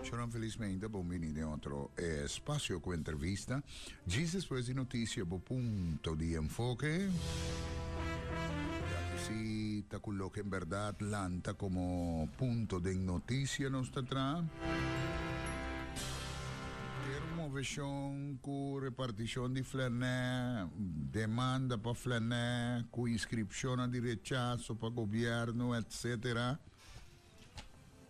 Shalom, felizmente bon bini den otro espacio cu entrevista. Gis despues di noticia, bo punto di enfoke. Si ta cu lo que en verdad lanta como punto de noticia nos ta tra. Pero moveshon ku repartishon di flernè, demanda pa flernè ku inskripshonnan di rechaso pa gobièrnu etc.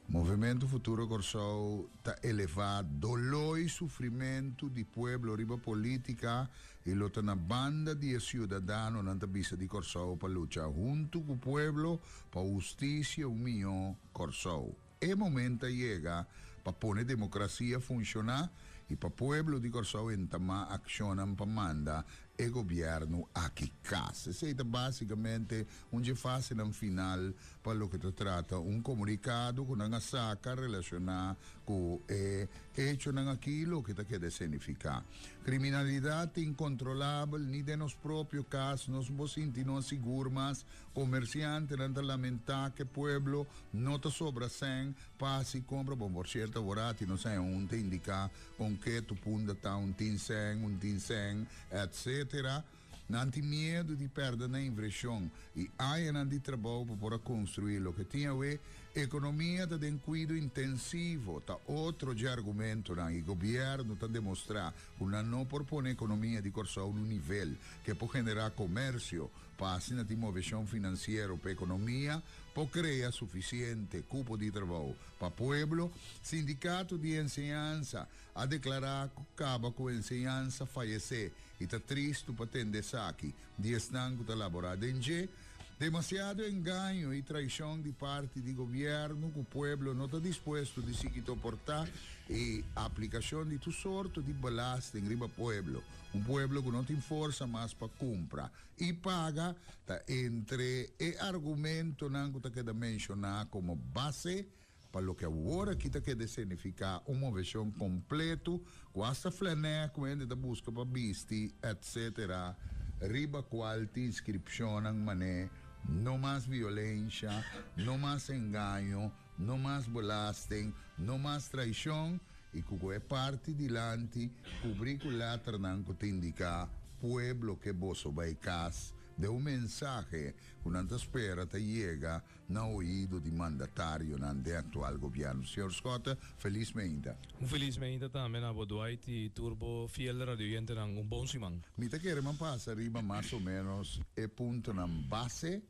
Movementu Futuro Kòrsou ta elevá doló i sufrimentu di pueblo riba polítika i lo ta na banda di e siudadano nan ta bisa di Kòrsou pa lucha huntu ku pueblo pa hustisia un mihó Kòrsou. E momento a yega pa pone democracia funciona y pa pueblo di Corsou entama accionnan pa manda e gobierno aki cas. Esey ta basicamente un dje fasenan final pa loke ta trata un comunicado cu nan a saca relaciona cu e hechonan aki y loke ta keda escenifica. Criminalidad ta incontrolabel, ni den nos propio cas nos no sinti nos sigur mas Komersiantenan ta lamentá ke pueblo no ta sobra sèn pa hasi kompra, bon por sierto aworaTi no sai hunta indiká kon ke tu punta ta un tin sèn, un tin sèn, etsetera. Nan tin miedu di pèrda na invreshon i añanan di trabou pa por a konstruí loke tin awe. Ekonomia ta den kuido intensivo ta otro dje argumentonan i gobièrnu ta demostrá ku nan no por pone ekonomia di Kòrsou n'un nivel ke por generá komersio pa asina tin moveshon finansiero pa ekonomia por krea sufisiente kupo di trabou pa pueblo, Sindikato di Enseñansa a deklará ku kaba ku enseñansa fayesé i ta tristu pa tende esaki di esnan ku ta laborá den dje. Demasiado engaño i traishon di parti di gobièrnu ku pueblo no ta dispuesto di sigui toportá i aplikashon di tur sorto di belasten riba pueblo, Un pueblo cu no tin forsa mas pa cumpra y paga ta entre e argumentonan cu ta keda menciona como base pa loke awor aki ta keda escenifica un movecion completo cu hasta flanèr cu hende ta busca pa bisti etc. Riba cual tin inscripcionnan man'e No mas violencia, No mas engaño, No mas belasten, no mas traishon i ku ku e parti dilanti kubrí ku lèternan ku ta indiká Pueblo ke boso bai kas den un mensahe ku nan ta spera ta yega na oido di mandatarionan den aktual gobièrnu. Señor Schotte, felis meinta. Un felis meinta tambe na bo Dwight i tur bo fiel radioyentenan. Un bon siman. Mi ta kere manpasa riba mas o ménos e puntonan base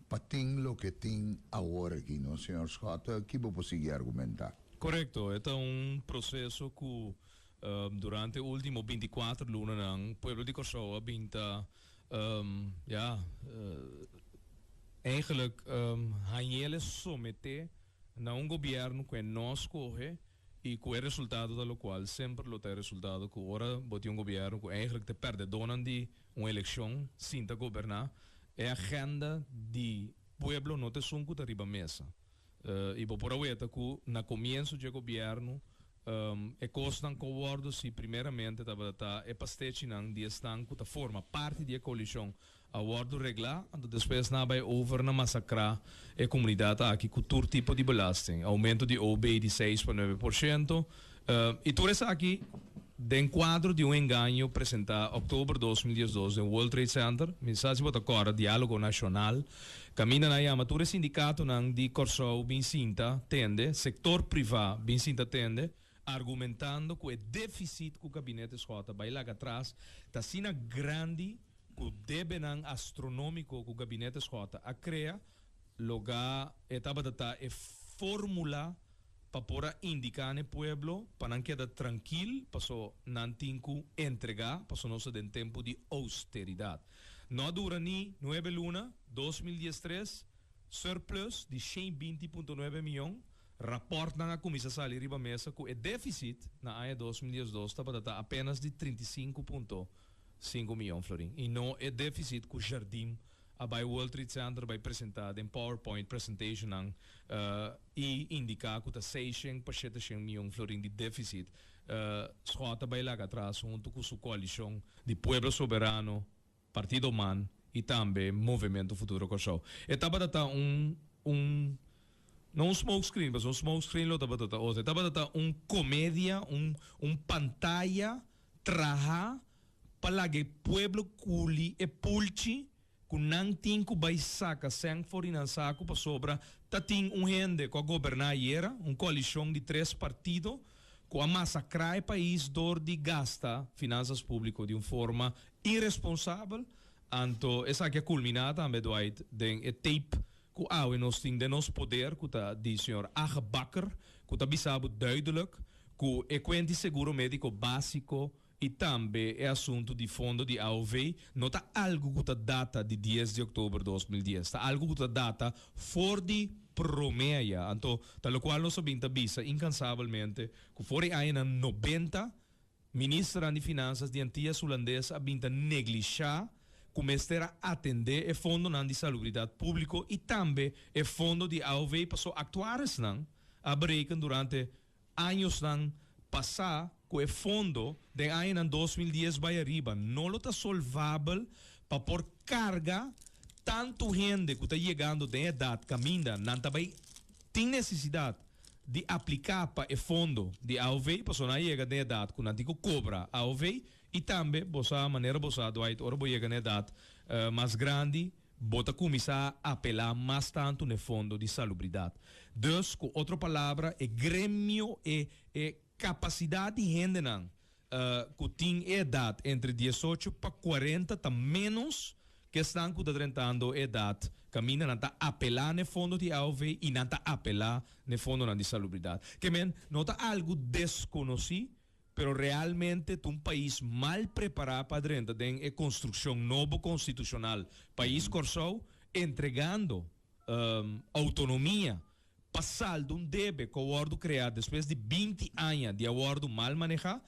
Pa tin loke tin awor aki no Señor Scott, ki bo por sigui argumenta. Korekto, e ta un proseso ku durante e ultimo binti kuater lunanan pueblo di Kòrsou a bin ta ya eigenlik hañ'el e someté na un gobièrnu ku e no a skohe. Y cu e resultado ta locual semper lo ta e resultado cu ora bo tin un gobierno cu eigenlijk ta perdedonan di un eleccion sin ta goberna, e agenda di pueblo no ta esun cu ta riba mesa. Y bo por a weta cu na comienzo dje gobierno e cosnan con wordo si primeramente tabata ta e pastechinan di esnan cu ta forma parti di e coalicion A wòrdu reglá, anto despues nan a bai over na masakrá e komunidat aki ku tur tipo di belasting, oumento di ob di seis pa nuebe por shento, i tur esaki den kuadro di un engaño presentá òktober dos mil diesdos den World Trade Center. Mi sa si bo ta kòrda diálogo nashonal, kaminda nan a yama tur e sindikatonan di Kòrsou bin sinta tende, sektor privá bin sinta tende, argumentando cu e deficit cu Gabinete Schoo ta bay laga atras ta asina grandi cu debenan astronomico cu Gabinete Schoo a crea loga e tabata ta e formula pa por a indica n'e pueblo pa nan keda trankil paso nan tin cu entrega paso nos ta den tempo di austeridad. No a dura ni nuebe luna dos mil diestres surplus di shen binti punto nuebe miyon Rapòrtnan a kuminsá sali riba mesa ku e défisit na aña dos mil diesdos tabata ta apénas di trinta i sinku punto sinku miyon florin i no e défisit ku Jardim a bai World Trade Center bai presentá den powerpoint presentationnan i indiká ku ta seishèn pa sheteshèn miyon florin di défisit. Schott a bai laga atras huntu ku su koalishon di Pueblo Soberano. Partido man y tambe Movimento Futuro Corsou. E tabata ta un un no un smoke screen pasobra un smoke screen lo tabata ta otro. E tabata ta un comedia, un un pantaya traha pa laga e pueblo culi e pulchi cu nan tin cu bay saca seng for di nan sacu pasobra ta tin un hende cu a goberna ayera, un coalicion di tres partido cu a masacra e pais door di gasta finanzas publico di un forma Irresponsabel, anto esaki a culmina tambe Dwight den e tape cu awe nos tin den nos poder cu ta di Sr. Age Bakker cu ta bisa bo duidelijk cu e cuent di seguro medico basico y tambe e asunto di fondo di AOV no ta algo cu ta data di dies di october dos mil dies, ta algo cu ta data for di prome aya, anto ta locual nos a bin ta bisa incansabelmente cu for e añanan nobenta. Ministeran di Finansas di Antias Hulandes a bin ta neglishá ku mester a atendé e fondonan di salubridat públiko i tambe e fondo di AOW pa su aktuaresnan a bereken durante añosnan pasá ku e fondo den añanan dos mil dies bai ariba no lo ta solvabel pa por karga tantu hende ku ta yegando den edat kaminda nan ta bai tin nesesidat di apliká pa e fondo di AOV pasobra nan a yega den edat ku nan tin ku kobra AOV i tambe bo sa manera bo sa Dwight ora bo yega na edat mas grandi bo ta kuminsá apelá mas tantu na e fondo di salubridat. Dus ku otro palabra e gremio e e. Capacidad di hendenan cu tin e edad entre diesocho pa cuarenta ta menos cu esnan cu ta drentando e edad caminda nan ta apela n'e fondo di AOV y nan ta apela n'e fondonan di salubridad. Ke men no ta algo desconoci, pero realmente ta un pais mal prepara pa drenta den e construccion nobo constitucional, pais Corsou entregando autonomia Pa salda un debe ku a wòrdu kreá despues di binti aña di a wòrdu mal manehá.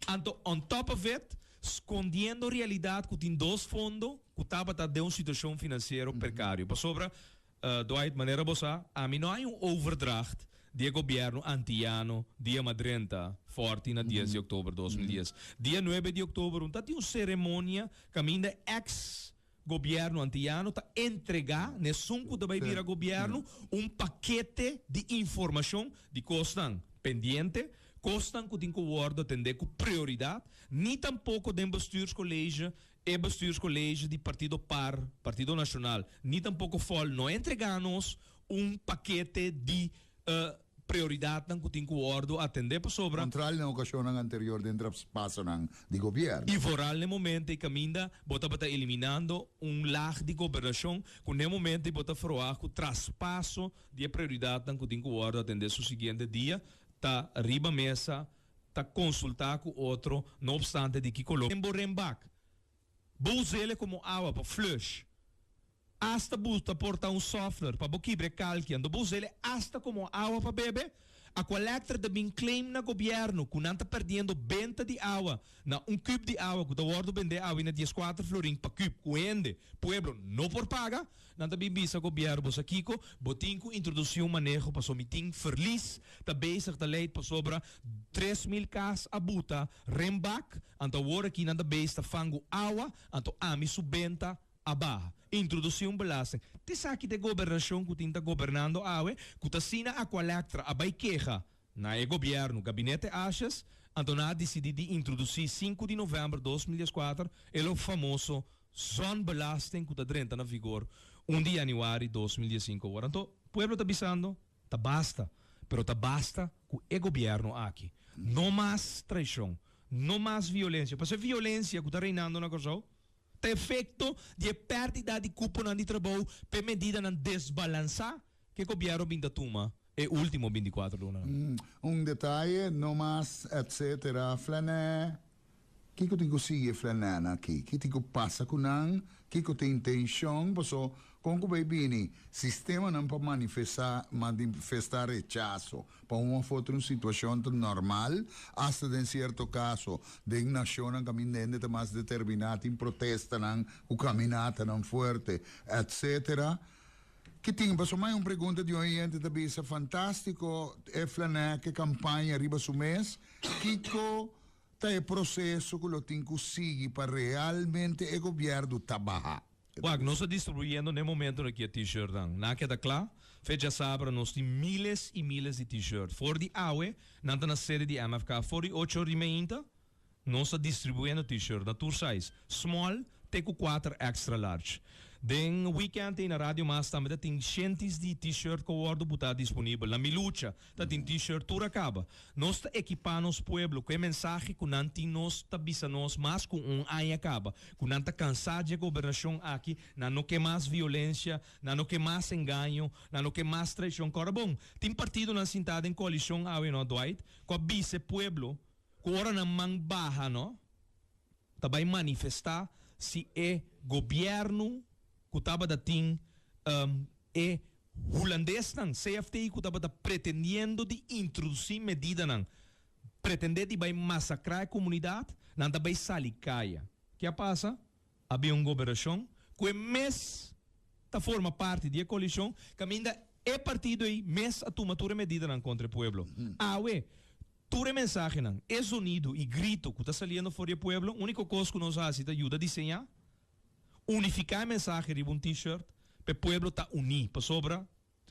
Anto on top of it, skondiendo realidat ku tin dos fondo ku tabata den un situashon finansiero prekario. Pasobra, Dwight, manera bo sa, ami no hay un overdracht di e gobièrnu antiyano dia ma drenta fòrti na dies di oktober dos mil dies. Dia nuebe di oktober un ta tin un seremonia kaminda eks. Gobièrnu antiano ta entregá n'esun ku ta bai bira gobièrnu un pakete di informashon di kosnan pendiente, kosnan ku tin ku wòrdu atendé ku prioridat, ni tampoko den bestürskolege, e bestürskolege di partido par, Partido Nashonal, ni tampoko fòl no a entregá nos un pakete di, Prioridatnan ku tin ku wòrdu atendé pasobra. Kontral na okashonnan anterior den traspasonan di gobièrnu. I foral n'e momento i kaminda bo tabata eliminando un lag di gobernashon ku n'e momento i bo ta froa ku traspaso di e prioridatnan ku tin ku wòrdu atendé su siguiente dia ta riba mesa ta konsultá ku otro no opstante di ki koló den bo renbak. Bo us'é komo awa pa flush Asta bu ta por ta un softener pa bo kibra e kalki ando bo usele asta komo awa pa bebe. Aqualectra ta bin claim na gobièrnu ku nan ta perdiendo benta di awa na un kub di awa ku ta wòrdu bendé awe na dies kuater florin pa kub ku hende, pueblo, no por paga. Nan ta bin bisa gobièrnu bo sa kiko, bo tin ku introdusi un maneho paso mi tin ferlis ta bezig ta leid pasobra tres mil kas a buta Renbak anto awor aki nan ta base ta fangu awa anto ami su benta A baha. Introduci un belasting. T'esaki t'e gobernacion cu tin ta gobernando awe cu t'asina a cu a Lectra a bay keha na e gobierno, Gabinete Ashes, anto nan a dicidi di introduci sinku di november dos mil dieskuater e lo famoso zonbelasting cu ta drenta na vigor un di januari dos mil diesinco awor. Anto, pueblo ta bisando, Ta basta. Pero ta basta cu e gobierno aki. No mas traicion. No mas violencia. P'esei violencia cu ta reinando na Corsou. Pa efekto di e pèrdida di kuponan di trabou pa e medidanan desbalansá ku e gobièrnu bin ta tuma e último binticuatro lunanan. Un detaye no mas etsetera Flènè, Kiko tin ku sigui e Flènènan aki? Ki tin ku pasa ku nan? Kiko ta intenshon? Pasó kon ku bai bini sistemanan pa manifesá manifestá rechaso? Pa un of otro un situacion ta normal, hasta den cierto caso. Den nacionnan caminda hende ta mas determiná, tin protestanan cu caminatanan fuerte, etc. Ki tin? Pasobra mai un pregunta di un oyente ta bisa, Fantástico e flan'é ke campaña riba su mes, kiko ta e proceso cu lo tin cu sigui pa realmente e gobierdo ta bahá? Wak, nos ta distribuyendo n'e momentu aki e T-shirtnan. Nan a keda kla, fecha sabra nos tin miles i miles di T-shirt. For di awe, nan ta na sede di MFK. For di ocho or di meinta, nos ta distribuyendo T-shirt na tur size, small te ku kuater extra large. Den weekend ei na Radio Mas tambe ta tin shentis di T-shirt ku a wòrdu butá disponibel na Mi Lucha, Ta tin T-shirt tur a kaba. Nos ta ekipá nos pueblo ku e mensahe ku nan tin nos ta bisa nos mas ku un aña kaba ku nan ta kansá dje gobernashon aki, nan no ke mas violensia, nan no ke mas engaño, nan no ke mas traishon. Kòrda bon, tin partidonan sintá den koalishon awe, no Dwight, ku a bisa e pueblo ku ora nan man baha, no, ta bai manifestá si e gobièrnu ku tabata tin e hulandesnan, CFT, ku tabata pretendiendo di introdusí medidanan pretendé di bai masakrá e komunidat, nan ta bai sali kaya. Ke a pasa? A bin un goberashon ku e mes ta forma parti di e koalishon kaminda e partido ei mes a tuma tur e medidanan kontra e pueblo. Awe, Tur e mensahenan, e zonidu i grito ku ta saliendo for di e pueblo, úniko kos ku nos hasi ta yuda diseñá, unifiká e mensahe riba un T-shirt pa e pueblo ta uní. Pasobra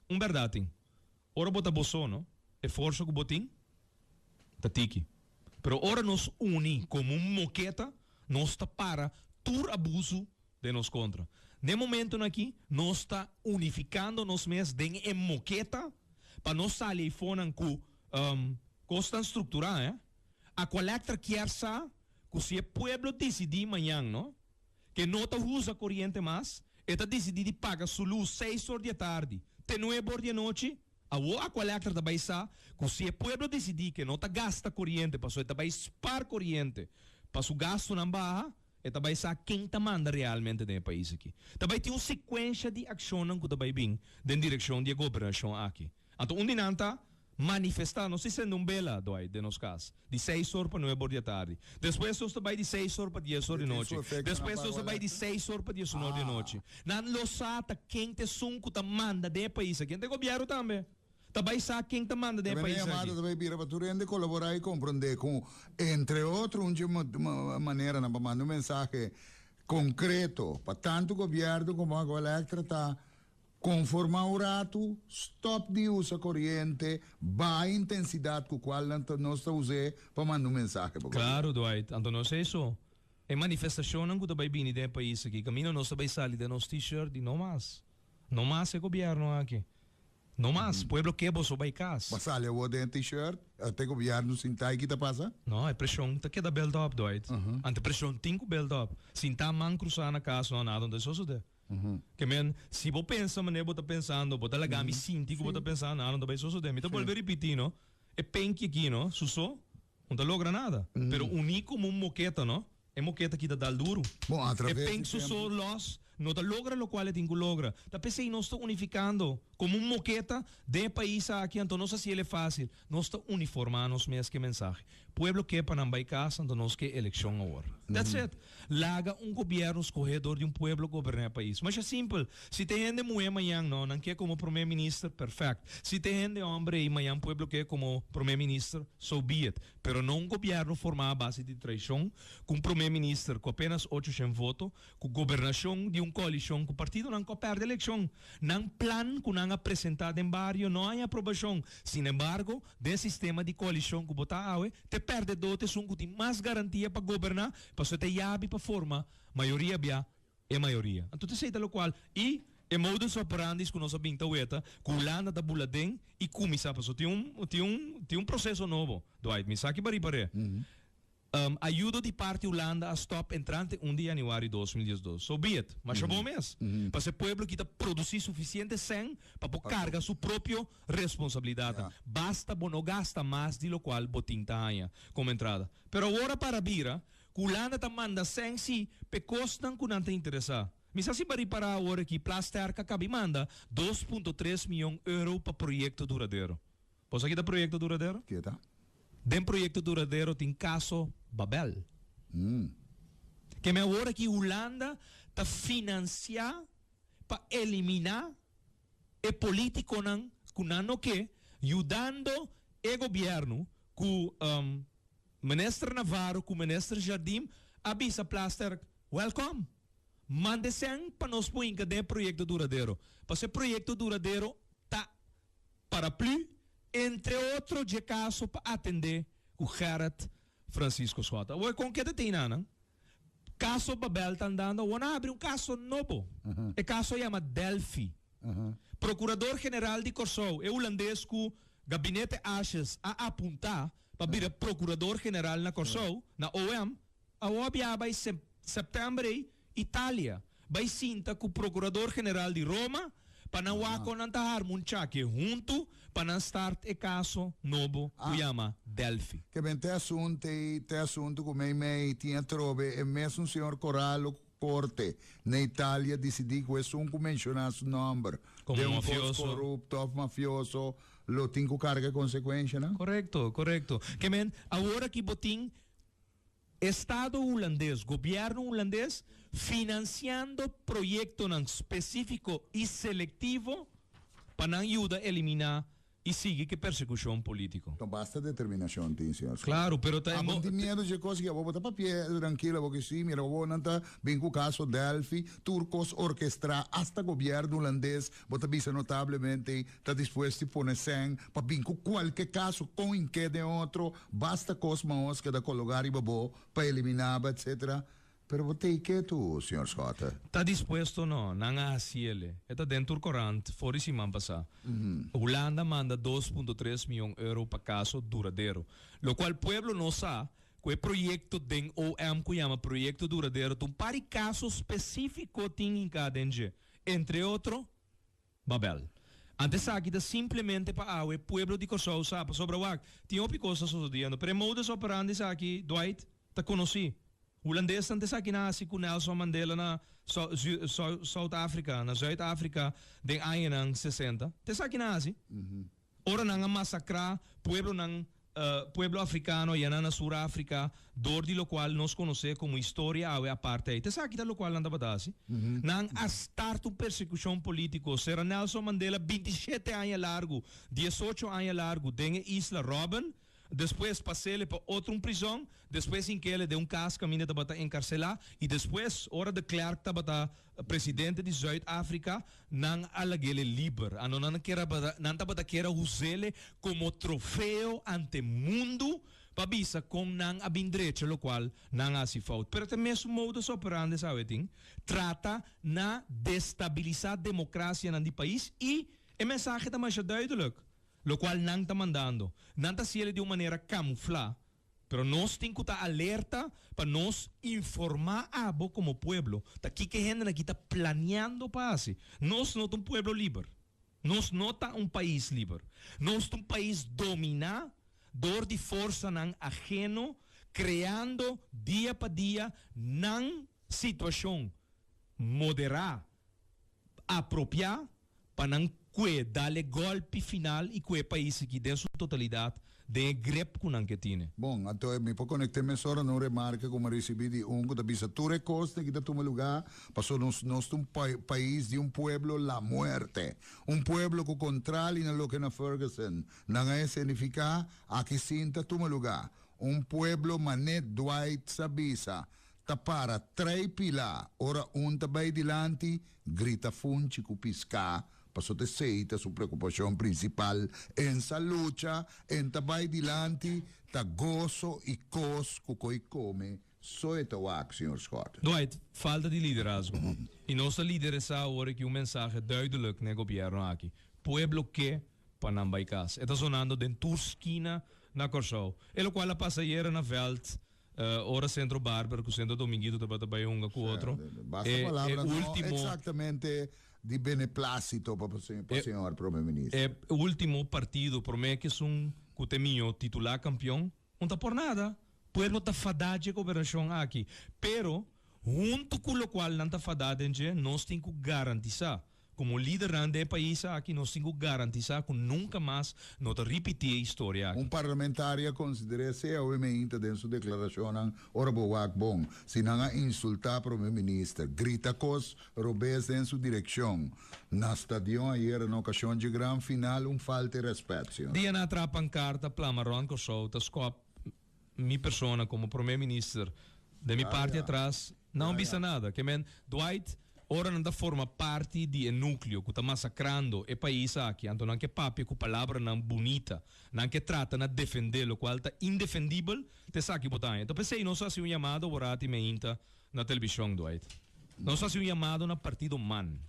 un bèrdat tin, ora bo ta bo solo, e forsa ku bo tin ta tiki. Pero ora nos uní komo un moketa, nos ta para tur abusu den nos kontra. Den momentonan akí nos ta unifikando nos mes den e moketa pa no sali eifonan ku kosnan strukturá. Aqualectra kier sa ku si e pueblo disidí mañan no ke no ta usa koriente mas, e ta disidí di paga su lus seis or di e tardi te nuebe or di e nochi. Awo Aqualectra ta bai sa ku si e pueblo disidí ke no ta gasta koriente pasobra e ta bai spar koriente pa su gastunan baha, E ta bai sa ken ta manda realmente den e pais aki. Ta bai tin un sekuensha di akshonnan ku ta bai bin den direkshon di e gobernashon aki. Anto un di nan ta manifestá, nos ta sende un bela, Dwight, den nos kas, di seis or pa nuebe or di atardi. Despues nos ta bai di seis or pa dies or di nochi. Despues nos ta bai di seis or pa dies un or di nochi. Nan lo sa ta ken ta esun ku ta manda den e pais aki. Nan ta e gobièrnu tambe. Ta bai sa ken ta manda den e pais aki. Ta bai bira pa tur hende kolaborá i komprondé ku entre otro un dje maneranan pa manda un mensahe konkreto pa tantu gobièrnu komo Agua Elektra ta konformá un ratu stòp di usa koriente baha intensidat ku kual nan ta nos ta us'é pa manda un mensahe pa gobièrnu. Klaru Dwight, anto nos a eso. E manifestashonnan ku ta bai bini den e pais aki kaminda nos ta bai sali den nos T-shirt di no mas. No mas e gobièrnu aki. No mas, pueblo ke boso bai kas. Ba sali awor den e t-shirt. El ta e gobierno sin tai kita pasa? No, e presion ta keda belt op Doit. Ante presion tin ku belt op. Sin ta man krusa na kas no nada no ta sosode. Ke men, si bo pensa manera bo ta pensando, bo ta laga mi sinti ku bo ta pensa nada no ta bai sosode. Mi ta bolbe ripiti no, e penki aki no, su so. Un ta logra nada. Pero uní komo un moketa, no? E moketa kita dal duru. Bon, a traves di tempo. E penso so lòs no ta logra lokual e tin ku logra. Ta p'esei nos ta unifikando komo un moketa den e pais aki. Anto nos hasiel e fásil. Nos ta uniformá nos mes ku e mensahe, Pueblo ke pa nan bai kasa, anto nos ke elekshon awor. That's it. Laga un gobierno scohe door di un pueblo goberna e pais. Masha simpel. Si te hende muhe mayan no, nan ke como prome minister, perfect. Si te hende hombre y mayan pueblo ke como prome minister, so be it. Pero no un gobierno forma a base di traicion, cu un prome minister cu apenas ocho shen voto, cu gobernacion di un coalicion cu partidonan cu a perde eleccion. Nan plan cu nan a presenta den bario no hay aprobacion. Sin embargo, Den e sistema di koalishon ku bo ta awe, t'e pèrdedó t'e esun ku tin mas garantia pa goberná, pasobra t'e yabi pa forma mayoria bia e mayoria. Anto t'esei ta lokual i e modus operandis ku nos a bin ta weta ku Hulanda ta bula den i kuminsá, pasobra tin un tin un tin un proseso nobo, Dwight, m'esaki b'ari par'e. Um ayudo di parti Hulanda a stop entrante un di januari dos mil diesdos. So be it. Masha bon mes. Pa se pueblo kita produci suficiente sèn pa por carga su propio responsabilidadnan. Basta bo no gasta mas di locual bo tin ta haña como entrada. Pero awor a para bira cu Hulanda ta manda sèn si p'e cosnan cu nan ta interesa. Mi sa si ba ripara awor aki Plasterk a cabi manda dos punto tres miyon euro pa proyecto duradero. Boso a kita proyekto duradero? Ke ta? Den proyekto duradero tin kaso Babel. Hm. Ke men awor aki Hulanda ta finansiá pa eliminá e polítikonan ku nan no ke, yudando e gobièrnu ku Minister Navarro ku Minister Jardim a bisa Plasterk, Wèlkòm! Manda esèn pa nos por hinka den e proyekto duradero. Pasobra e proyekto duradero ta. Paraplu, entre otro dje kaso pa atendé ku Gerrit Francisco Schott. Awor kon ke ta tin nan, nan? Kaso Babel ta andando, awor nan abri un kaso nobo. E kaso a yama Delphi. Prokurador General di Kòrsou, e hulandes ku Gabinete Ashes a apuntá pa bira Prokurador General na Kòrsou, na OM, awor a bia bai sep, sèptèmber ei, Italia, bai sinta ku Prokurador General di Roma pa nan wak kon nan ta harma un chake huntu pa nan start e kaso nobo ku yama Delphi. Te ben te asunte i te asuntu ku meimei tin atrobe e mesun señor Corallo ku korte na Italia disidí ku esun ku menshoná su nòmber den un kos korupto òf mafioso lo tin ku karga e konsekuenshanan. Korekto, korekto. Ke men awor aki bo tin. Estado Hulandes, Gobierno Hulandes, financiando proyectonan specifico y selectivo pa nan yuda elimina y sigui cu persecucion politico. No basta determinacion tin, señor Smith. Claro, pero ta. Abo no tin miedo dje cos aki. Abo bo ta pa pie trankilo, abo ki si. Mira cu abo nan ta bin cu caso Delphi, tur cos orkestra, hasta Gobierno Hulandes, bo ta bisa notablemente, ta dispuesto di pone sèn pa bin cu cualke caso, con y ken den otro, Basta kos ma hos keda kologá riba bo pa eliminába etcetera pero bo tei ke tu señor Schotte? Ta dispuesto no, nan a hasiele. E ta den tur korant for di siman pasá. Hulanda manda dos punto tres mion euro pa kaso duradero. Lokual pueblo no sa ku e proyekto den OM ku yama proyekto duradero ta un par di kaso spesífiko tin hinká den dje. Entre otro. Babel. Ante esaki ta simplemente pa awe pueblo di Kòrsou sa pasobra wak tin hopi kos ta sosodiendo. Pero e modus operandi esaki Dwight ta konosí. Hulandes ante esaki nan hasi ku Nelson Mandela na Sout Afrika, na Zuid Afrika, den añanan sesenta. Te esaki nan hasi. Ora nan a masacrá pueblonan, pueblo africano ya nan na Sur Africa, dor di locual nos conocé como historia awe apartheid. Ta esaki ta locual nan tabata haci. Nan a start un persecucion politico. Sera Nelson Mandela binti shete aña largu, diesocho aña largu, den e isla Robben, Despues pasele pa otro un prizon, despues hinkele den un cas caminda tabata encarcela y despues ora de Klerk tabata presidente di Zuid Africa nan a lagele liber. Ano nan kera nan tabata kera usele como trofeo ante mundo pa bisa con nan a bin drecha locual nan a haci fout. Pero ta e mesun modus operandi sabe tin, trata na destabilisa democracianan di pais y e mensahe ta masha duidelijk. Locual nan ta mandando. Nan ta haciele di un manera camufla, pero nos tin cu ta alerta pa nos informa abo como pueblo ta kico hende aki ta planeando pa haci. Nos no ta un pueblo liber. Nos no ta un pais liber. Nos ta un pais domina door di forsanan ageno creando dia pa dia nan situacion modera, apropia pa nan kue dale golpi final y kue pais aki den su totalidad den e grep cu nan ke tine. Bon, anto e mi por conecte mesora na un remarca cu mi a ricibi di un cu ta bisa tur e cos tin aki ta tuma luga pasobra nos nos ta un pais di un pueblo la muerte, un pueblo cu contrali na loke na Ferguson nan a escenifica aki sin ta tuma luga, un pueblo mane Dwight sa bisa ta para trei pila ora un ta bay dilanti Grita funchi ku piská pasot esei ta su preokupashon prinsipal. En sa lucha, en ta bai dilanti, ta goso i kos ku koi kome, so e ta wak, señor Scott. Dwight, falta di liderazgo. I nos ta lideresá awor e ki un mensahe duidelik na e gobièrnu aki, Pueblo ke pa nan bai kas. E ta sonando den tur skina na Kòrsou. E lokual a pasa ayera na vèlt. Ora Centro Barber cu Centro Dominguito tabata bay hunga cu otro, e ultimo, e ultimo partido prome cu esun cu ta e miño titular campeon, no ta por nada. Pueblo ta fada dje gobernacion aki, pero hunto cu locual nan ta fada den dje, nos tin cu garantisa. Komo lidernan den e pais aki nos tin ku garantisá ku nunka mas no ta ripití e historia aki. Un parlamentario a konsider'é sea awe meen ta den su deklarashonnan ora bo wak bon, si nan a insultá prome minister, grita kos robes den su direkshon na stadion ayera na okashon dje gran final un falta e rèspèt, Señor. Dianá trap pankarta Pla Maron Kòrsou ta skòp Mi persona como Prome Minister den mi parti atras no a bisa nada. Ke men, Dwight, ora nan ta forma parti di e nucleo cu ta masacrando e pais aki, anto nan ke papia cu palabranan bunita. Nan ke trata na defende locual ta indefendibel ta esaki bo ta haña. Ta p'esey nos a haci un yamado wora ti meinta na television, Dwight. Nos a haci un yamado na partido man.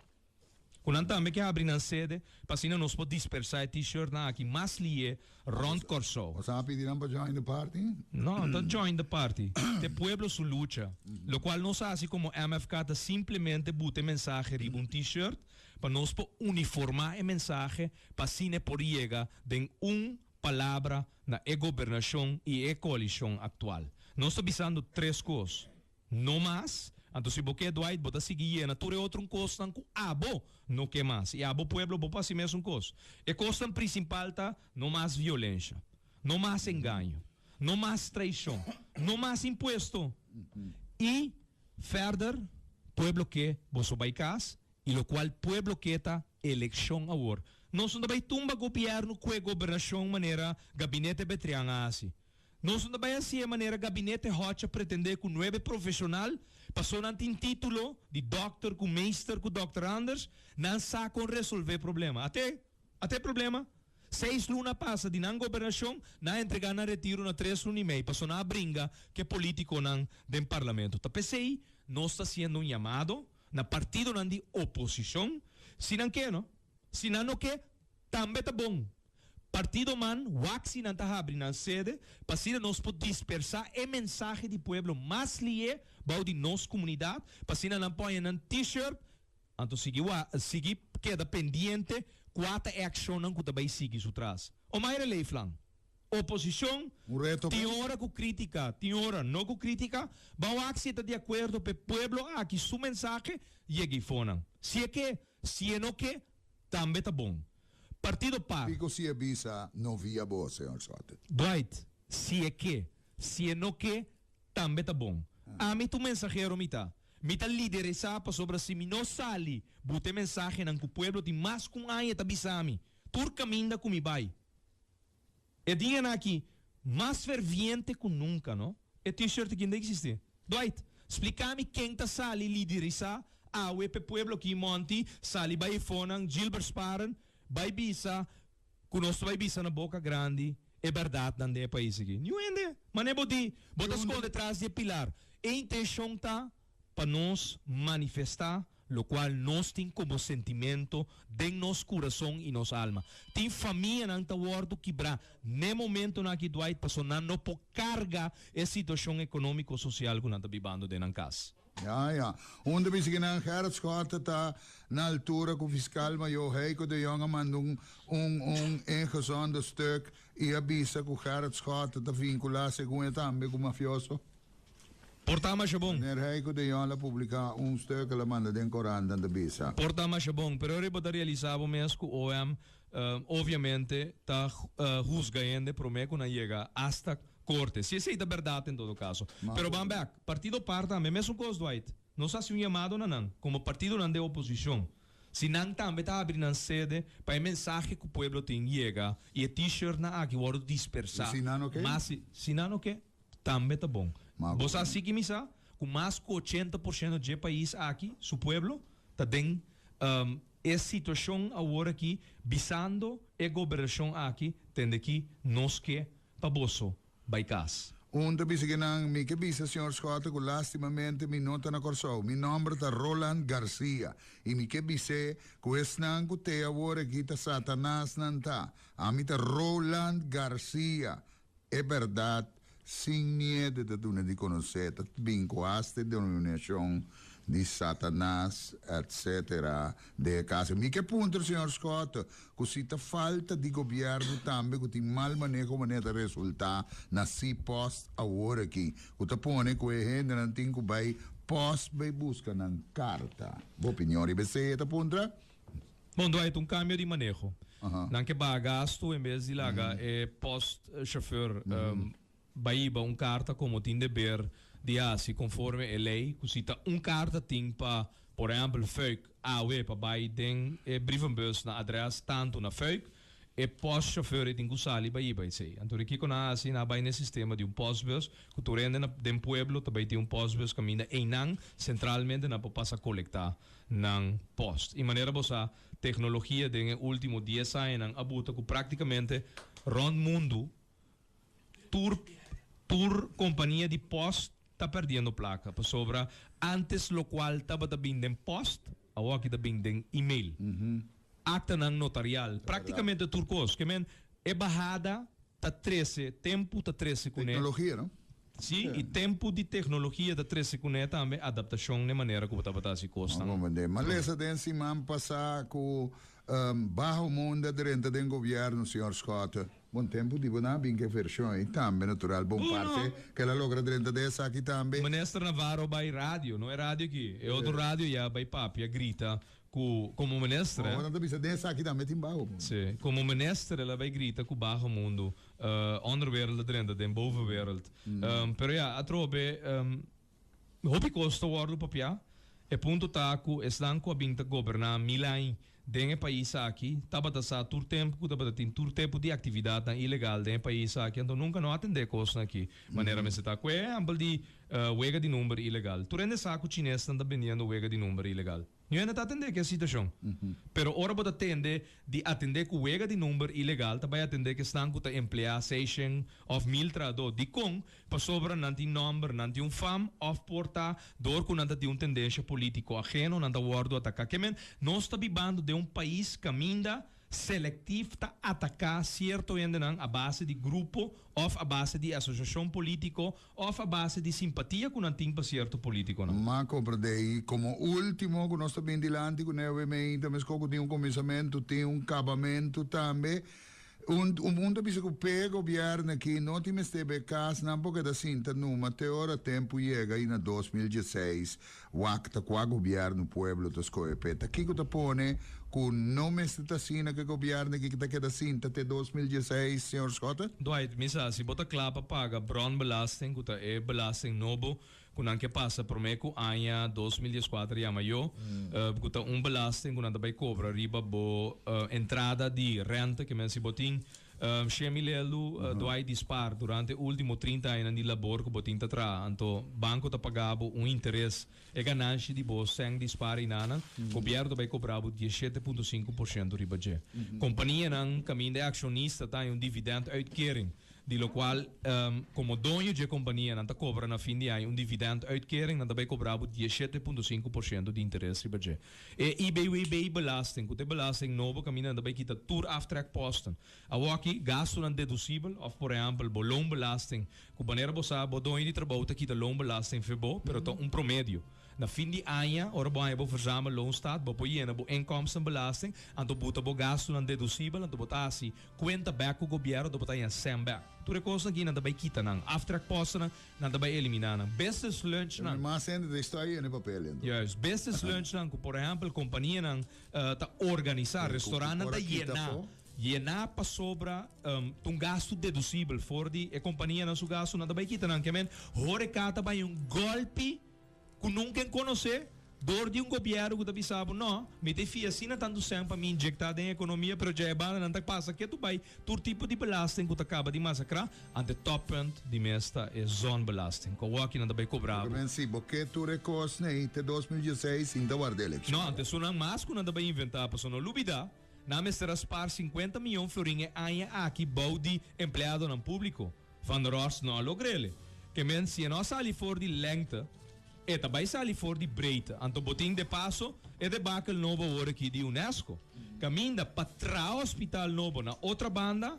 Cu nan tambe ke habri nan sede pa asina nos por dispersa e T-shirtnan aki mas liye rond Corsou. Bo sa a pidi nan pa join the party? No, no ta join the party. T'e pueblo su lucha. Locual nos haci como MFK ta simplemente buta e mensahe riba un T-shirt pa nos por uniforma e mensahe pa asina e por yega den un palabra na e gobernacion y e coalicion actual. Nos ta bisando tres cos. No mas. Anto si bo ke Dwight, bo ta sigui yena tur e otrun kosnan ku abo no ke mas. I abo pueblo, bo pasi mesun kos. E kosnan prisimpal ta, no mas violensha, no mas engaño, no mas traishon, no mas impuesto. I ferder, pueblo ke boso bai kas, i lokual pueblo ke ta elekshon awor. Noso no ta bai tumba gobièrnu ku e gobernashon manera Gabinete Betrian a hasi. Nos no ta bai haci'e manera gabinete Hodge a pretende cu nuebe profesional, paso nan tin titulo di dokter cu meester cu dokter anders, nan sa con resolve problema. Ate ate problema? Seis luna a pasa di nan gobernacion, nan a entrega nan retiro na tres luna y mei, paso nan a bringa cu e politiconan den parlamento. Ta p'esey nos ta haciendo un yamado na partidonan di oposicion, si nan ke no, si nan no ke tambe ta bon, Partidoman waksinan ta habri nan sede pasidra nos por dispersá e mensahe di pueblo mas li'é bou di nos kumunidat, pasina nan poña nan T-shirt. Anto sigui wa, sigui keda pendiente kua ta e akshonnan ku ta bai sigui su tras. Omaira Leeflang, Oposishon, Un reto tin ken? ora ku krítika, tin ora no ku krítika, bou aksi e ta di akuerdo p'e pueblo aki su mensahe yega ifónan. Si e ke, si e no ke, tambe ta bon. Partido pa. Pico si e bisa no via bo, Señor Soto? Dwight, Si e ke, si e no ke, tambe ta bon. Ami ta un mensahero mi ta. Mi ta lideresá pasobra si mi no sali buta e mensahenan ku pueblo tin mas ku un aña ta bisa mi tur kaminda ku mi bai. E dianan aki mas ferviente cu nunca, no? E T-shirt aki n'ta existi. Dwight, splica mi ken ta sali liderisa awe p'e pueblo aki monti sali bai e fonan Gilbert Sparen bai bisa cu nos ta bai bisa na boca grandi e berdadnan den e pais aki? Niun hende! Mane bo di, bo ta sconde tras di e pilar. E intencion ta pa nos manifestá lokual nos tin komo sentimento den nos kurason i nos alma. Tin famianan ta wòrdu kibrá n'e momentonan aki Dwight pasó nan no por karga e situashon ekonómiko sosial ku nan ta bibando den nan kas. Ya, ya. Un ta bisa ki nan hertschot ta na altura ku Fiskal Mayó Heiko de Jong a manda un un un ingezonde stuk i a bisa ku hertschot ta vinkulá segun e tambe ku mafioso. Por ta masha bon. Meneer Heiko de Jong la publica un stuk e la manda den corantan ta bisa. Por ta masha bon, pero riba ta realisa bo mes cu OM obviamente ta husga hende prome cu nan yega hasta Corte. Si esey ta berdad en todo caso. Pero ban bek, partido par tambe mesun cos Dwight. Nos haci un yamado na nan como partidonan de oposicion si nan tambe ta habri nan sede pa e mensahe cu pueblo tin yega y e T-shirtnan aki wordo dispersa mas si nan oke. Tambe ta bon. Bo sa si ki mi sa ku mas ku ochenta por shento dje pais aki su pueblo ta den e situashon awor aki bisando e gobernashon aki tende ki nos ke pa boso bai kas. Un ta bisa ke nan, Mi ke bisa señor Schotten ku lastimamente mi no ta na Kòrsou. Mi nòmber ta Roland Garcia i mi ke bis'é ku esnan ku tea awor aki ta Satanas nan ta. Ami ta Roland Garcia, E berdad sin miedu ta duna di conoce ta bincuaste denominacion di Satanas etc. De e caso mi ke punter Señor Scott cu si ta falta di gobierno tambe cu tin mal maneho manera ta resulta na si post awor aki cu ta pone cu e hendenan tin cu bay post bay busca nan carta. Bo opinion riba esey e ta puntra? Bon, Dwight, un kambio di maneho. Nan ke baha gastu en bes di laga e post-chauffeur baiba un karta komo tin deber di hasi konforme e lei, ku si ta un karta tin pa, por ehèmpel, Fuik, awe pa bai den e brievenbus na adrès tantu na Fuik, e post-chauffeur e tin ku sali baiba esei. Anto di kiko nan a hasi? Nan a bai na e sistema di un postbus, ku tur hende den pueblo ta bai tin un postbus kaminda einan, sentralmente nan por pasa kolektá nan post. I manera bo sa, teknologia den e último dies añanan a buta ku práktikamente rònt mundu tur tur kompania di post ta pèrdiendo plaka. Pasobra ántes lokual tabata bin den post, awo aki ta bin den email. Aktanan notarial, práktikamente tur kos. Ke men, e bahada ta trese tempu, ta trese kuné. Teknologia, no? Sí, i tempu di teknologia ta trese kuné tambe, adaptashon n'e manera ku bo tabata hasi kosnan. Malesa den siman pasá ku baho munda drenta den gobièrnu, señor Scott. Bon, tempu di bo nan a bin ku e vershon ei tambe, natural. Bon parte ku el a logra drenta di esaki tambe. Minister Navarro bai radio, no e radio aki, e otro radio ya, bai papia, grita ku komo minister, eh. Bo nan ta bisa den esaki tambe tin baho mundu. Sí, komo minister el a bai grita ku baho mundu. Onderwereld a drenta den bovenwereld. Pero ya, atrobe hopi cos ta wordo papiá. E punto ta cu esnan cu a bin ta goberná mil aña den e pais aki tabata sa tur tempo cu tabata tin tur tipo di actividadnan ilegal den e pais aki, anto nunca no a atendé cosnan aki manera mester ta. Cu e ehempel di wega di number ilegal. Tur hende sa cu chinesnan ta bini ando wega di number ilegal. Niu hende ta atendé ku e situashon. Pero ora bo ta tende di atendé ku wega di number ilegal ta bai atendé kesnan ku ta empleá seishen òf mil trahadó. Dikon? Pasobra nan tin nòmber, nan tin un fam òf por ta dor ku nan ta tin un tendensha polítiko ageno nan ta wòrdu ataká. Ke men, nos ta bibando den un pais kaminda selektif ta ataká sierto hendenan a base di grupo òf a base di e asosiashon polítiko Òf a base di simpatia ku nan tin pa sierto polítikonan? M'a kompra dei komo último ku nos ta bin dilanti ku newe mei ta meskó ku tin un kominsamentu, tin un kabamentu tambe. Un un ta bisa ku p'e gobièrnu akí no tin mester b'e kasnan por keda sinta numa te ora tempu yega i na dos mil dieseis Wak ta kua gobièrnu pueblo ta skohe p'e. Ta kiko ta pone ku no mester ta asina ke gobièrnu ke ta keda sinta te dos mil dieseis, señor Schotten? Dwight, Mi sa, si bo ta kla pa paga brònbelasting, ku ta e belasting nobo ku nan ke pasa promé ku aña dos mil dies kuater yama yo, ku ta un belasting ku nan ta bai kobra riba bo entrada di rènta, ke men si bo tin Shemi Lelu, Dwight Dispar, durante e ultimo trinta añanan di labor ku bo tin ta traha, anto banko ta paga bo un interes. E gananshi di bo sèn dispara i nanan, gobièrnu bai kobra bo dies shete punto sinku por shento riba dje. Kompanianan kaminda e akshonista ta haña un dividènt uitkering, di lo kual komo doño dje kompania nan ta kobra na fin di aña un dividènt uitkering, nan ta bai kobra bo dies shete punto sinku por shento di interes riba dje. E IBWB-belasting, ku ta e belasting nobo kaminda ta bai kita tur aftrekposten. Awor aki, gastunan dedusibel òf por ehèmpel bo loonbelasting, ku manera bo sa, bo doño di trabou ta kita loonbelasting for bo, pero ta un promedio. Na fin di aña, ora bo haña bo verzamel loonstat, bo por yena bo inkomstenbelasting, anto bo buta bo gastunan dedusibel, anto bo ta hasi kuenta bèk ku gobièrnu, anto bo ta haña sèn bèk. Tur e kosnan aki nan ta bai kita nan aftrekpostennan Nan ta bai eliminá nan business lunchnan. Tambe mas hende ta estuá i hende papel dentro. Juist. Business lunchnan ku por ehèmpel kompanianan ta organisá, restorannan ta yená, yená pasobra ta un gastu dedusibel for di e kompanianan su gastu. Nan ta bai kita nan. Ke men, horeká ta bai un gòlpi. Ku nunka e konosé dor di un gobièrnu ku ta bisa bo, No, mi ta e fia asina tantu sèn pa mi injektá den e ekonomia, pero dja e banda nan ta pasa ketu bai tur tipo di belasting ku ta kaba di masakrá. Ant e tòppunt di mes ta e zònbelasting, ku awòkki nan ta bai kobrá bo. Men si bo ke tur e kos nei te dos mil dieseis sin ta warda elekshon. No, ant esun nan mas ku nan ta bai inventá, pasobra no lubidá. Nan a mester a spaar sinkuenta mion florin e aña aki bou di empleadonan públiko. Van der Horst no a logr'ele. Ke men si e no a sali for di lèngte, e ta bai sali for di breite. Anto bo tin depaso e debakel nobo awor'akí di Unesco. Kaminda pa traha hospital nobo na otra banda,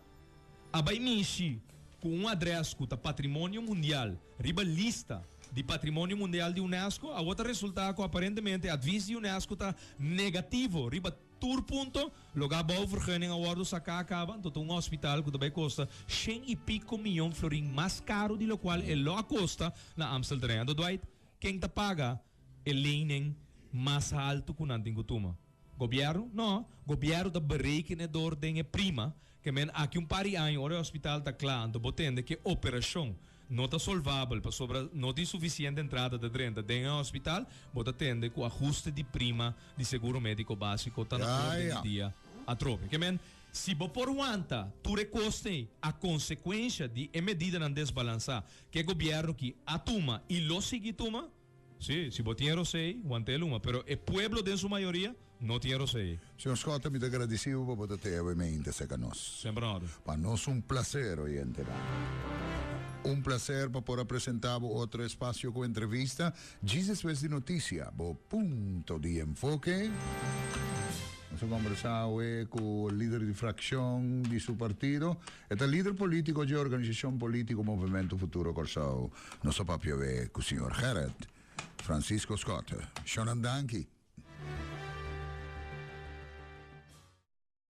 a bai mishi ku un adrès ku ta patrimonio mundial, riba lista di patrimonio mundial di Unesco, awor ta resultá ku aparentemente e advis di Unesco ta negativo riba Tur punto lo ga bou vergunning a wordo sacá caba, anto ta un hospital cu ta bay costa shen y pico miyon florin mas caro di locual e lo a costa na Amstel terrein. Anto Dwight, ken ta paga e lening mas halto cu nan tin cu tuma? Gobierno? No, gobierno ta berekenedor den e prima Kemen aki un par di aña ora e hospital ta kla anto bo tende ke operashon no ta solvabel pasobra no tin sufisiente entrada ta drenta den e hospital, bo ta tende ku ahuste di prima di seguro médiko básiko ta na orden di dia atrobe. Kemen. Si bo por wanta tur e koste ei a konsekuensha di e medidanan desbalansá ke gobièrnu ki a tuma i lo sigui tuma, Sí, si bo tin e rosei, wanta e luma, pero e pueblo den su mayoria no tin e rosei. Señor Scott, mi ta gradisibu pa bo ta tea awe mei inter seca nos. Semper en orde. Pa nos un placer, oyentenan. Un placer pa por a presenta bo otro espacio cu entrevista, djis despues di noticia, bo punto di enfoke. Nos a conversa awe cu lider di fraccion di su partido, E ta lider polítiko dje organisashon polítiko Movimento Futuro Kòrsou. Nos a papia awé ku señor Gerrit Francisco Scott. Shònan danki.